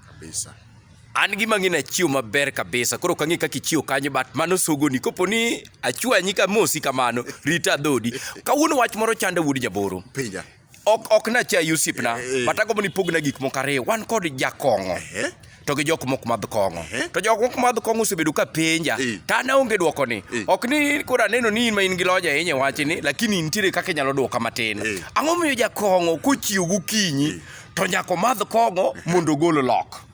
kabisa an gima ng'e nachiwo maber kabisa koro kang'e kaka ichiwo kanyo but mano sogoni kopo ni achwanyi ka mosi kamano rita dhodi kawuono wach moro chanda wuod jaboro pinja ok ok nachayi osiepna Eh, eh. but agombo ni pogna gik moko ariyo wan kod jakong'o Eh? to gi jok mok madh kong'o Eh? to jok mok madh kong'o osebedo ka penja Eh. to an aonge dwoko ni Eh. ok ni koro aneno ni in ma in gi lony ahinya e wachni lakini nitiere kaka inyalo dwoka matin Eh. ang'o miyo jakong'o kochiew gokinyi to nyaka omadh kong'o mondo ogol lok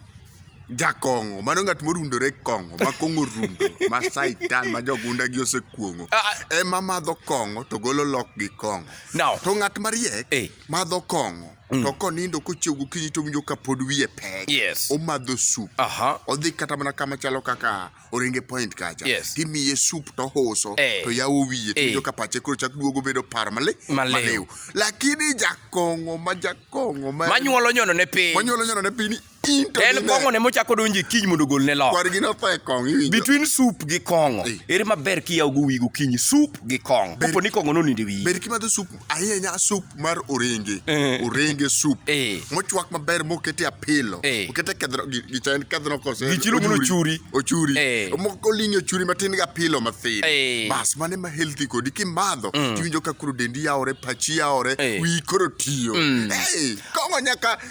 jakong'o mano ng'at morundore kong'o ma kong'o rundo ma saitan ma jogunda gi osekuong'o ah, ah. ema madho kong'o to golo lok gi kong'o no. to ng'at mariek hey. Eh. madho kong'o mm. to konindo kochiew gokinyi to winjo ka pod wiye pek yes. omadho sup uh -huh. odhi kata mana kama chalo kaka oringe point kacha yes. timiye sup to hoso hey. Eh. to yawo wiye hey. Eh. ka pache koro chak duogo bedo par male maliw lakini jakongo ma jakongo ma manyuolo nyono ne piny manyuolo nyono ne piny en kongo ne mochako donjo e kiny mondo gol ne lo kwargi no fe kong iwinjo between soup gi kongo hey. Eh. ere maber kiyawo go wigo kiny soup gi kongo kapo ni kongo no ninde wiyi ber kimadho soup ahinya sup mar orenge Eh. orenge sup Eh. mochwak maber mokete apilo Eh. okete kedhno gi- gi chand kedhno kose Gi chilo mondo ochuri. ochuri Eh. moko lingi ochuri matin gi apilo mathin Eh. bas mane ma healthy kodi kimadho tiwinjo ka koro dendi yawore pachi yawore Eh. wiyi koro tiyo Eh, kong'o nyaka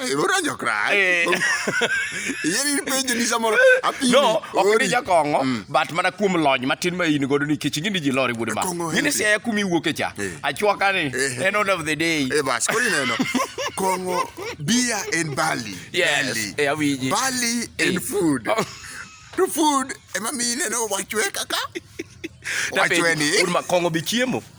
Eh, Ora jo cry. Eh. Yeri penjo ni samoro apimi. No, ok ori. ni jakong'o, Mm. but mana kuom lony matin ma in godo nikech ing'e ni ji lori wuod ma. Kong'o Ng'e ni healthy. siaya kumi wuoke cha. Eh. Achwaka ni, Eh. end of the day. Eh bas, koro ineno. Kongo beer and barley. Yes, Barley. eh, awinji. Barley Eh. and food. Oh. To food ema mi ineno wachwe kaka. Wachwe ni. Wuod ma kong'o be chiemo.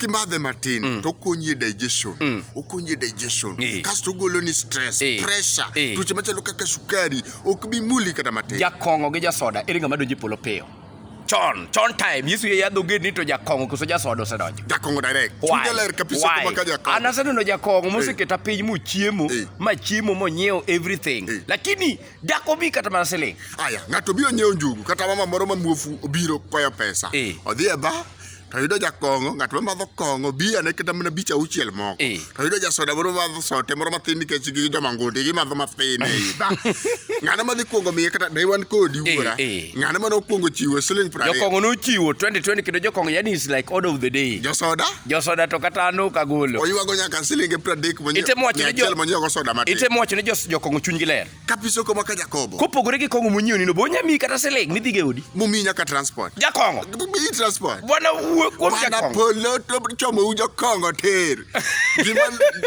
kimadhe matin mm. to okonyi e digestion mm. okonyi e digestion e. kasto ogolo ni stress e. pressure e. tuoche machalo kaka sukari ok bi muli kata matin jakong'o gi jasoda ere ng'ama donjo e polo piyo chon chon time yesu ye yadho ged ni to jakong'o koso jasoda osedonjo jakong'o direct chunya ler kabisa kuma ka jakong'o an aseneno jakong'o moseketa piny mochiemo eh. ma chiemo monyiewo everything eh. lakini Dak obi kata mana siling'. Aya, ng'ato obiro nyiewo njugu kata mama moro ma muofu obiro kwayo pesa. Eh. Odhi e bar to yudo jakong'o, ng'at ma madho kong'o bi ane kata mana bich auchiel moko. Eh. To yudo jasoda moro madho sote moro mathin nikech gi joma ngundi gimadho mathin e i bar. Ng'ano madhi kuongo miye kata ne wan kodi Eh, wuora. eh. Ng'ano mane okuongo chiwo siling' piero ariyo. Jokong'o nochiwo 2020 kendo jokong'o yani is like order of the day. Josoda Josoda to kata an ok agolo. Oywago nyaka silinge 30 monyiewo. Itemo wacho ni jo monyiewo soda matin. Itemo wacho ni jo jokong'o chunygi ler. Kapiso koma ka Jakobo. Kopogore gi kong'o monyiewo nino bo nyami kata siling midhi ge odi. Mumi nyaka transport. Jakong'o. Mumi transport. Bwana wuo kuom jakong'o. Bwana polo to chomo u jokong'o ter. Gima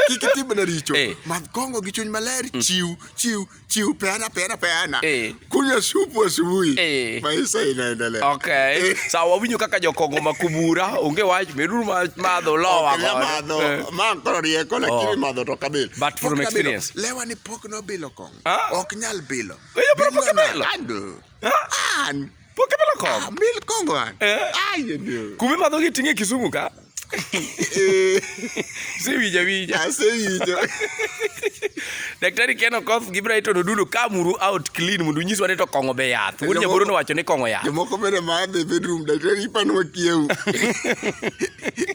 kik timna richo. Eh. Ma kong'o gi chuny maler mm. chiw chiw chiu peana peana peana Eh. kunywa supu asubuhi Eh. maisha inaendelea Okay. Eh. Sawa wawinyo kaka jokongo makubura onge wach meduru ma- madho lowa Okela godo. madho Eh. ma koro rieko lakini Oh. madho to kabil But from experience. lewa ni pok nobilo kong Ah. ok nyal bilo Oyo, pok Bilo na- obilo. Ando. Ah, an. Pok imadho kong'o. Ah, mil kong'o an. Eh? Ai, ndio. Kuma imadho gi ting'e Kisumu ka? Eh. Sewija wija. Asewija. Ah, Daktari Ken Okoth gi Brighton Odulo kamuru out clean mondo unyiswa ni to kong'o be yath. Wuod Jomoko- Jaboro nowacho ni kong'o yath. Jomoko bende madhe bedroom daktari ipano wakiewu.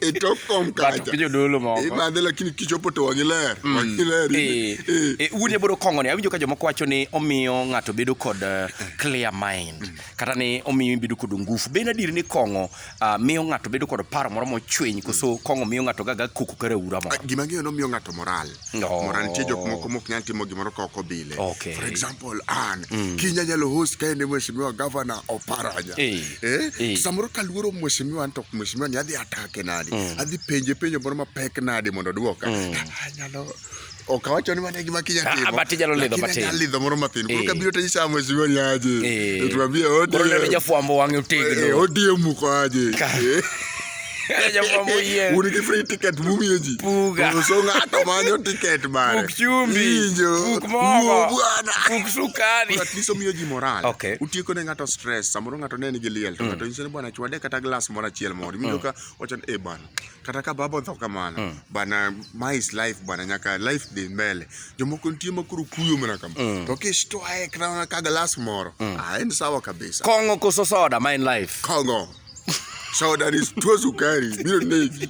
e tok kom kacha jodolo moko ibadhe lakini kichopo to wagi ler mm. wagi ler eh, eh. eh, un yaboro kongoni awinjo ka jomoko wacho ni omiyo ng'ato bedo kod clear mind mm. kata ni omiyo bedo kod ngufu be nadier ni kong'o ah, miyo ng'ato bedo kod paro moro mochwiny koso mm. kong'o miyo ng'ato gaga koko kare ura moro ah, gima ng'eyo nomiyo ng'ato moral No. Mara nitie jok moko mok nyal timo gimoro ka ok obile. Okay. For example, an mm. kinya nyalo host ka en mheshimiwa governor Oparanya. Eh. Eh? eh. Samoro kaluoro mheshimiwa anto mheshimiwa ni adhi atake nadi. Mm. Adhi penje penjo moro mapek nadi mondo duoka. Mm. Ah, nyalo okawacho ni mane gima kinya ah, timo but jalo lidho but jalo lidho moro mathin koro eh. kabiro to nyisa mwezi wa nyaje eh. tuambie odi koro ndio jafwambo wange utegno eh, odi muko aje un gi free ticket mumiyo ji so ng'ato manyo ticket mare bwanaatlist omiyo ji moral utieko ne ng'ato stress samoro ng'ato ne nigi liel to mm. ng'ato nyiso ni bwana chwade kata glas moro achiel moro iwinjo mm. ka wachan e eh, bana kata ka baba otho kamano mm. bana my is life bwana nyaka life dhi mbele jomoko nitie ma koro kuyo mana kama mm. to kistwaye kata ka galas moro mm. ah, en sawa kabisa kong'o koso soda ma en life kong'o soda ni tuo sukari biro negi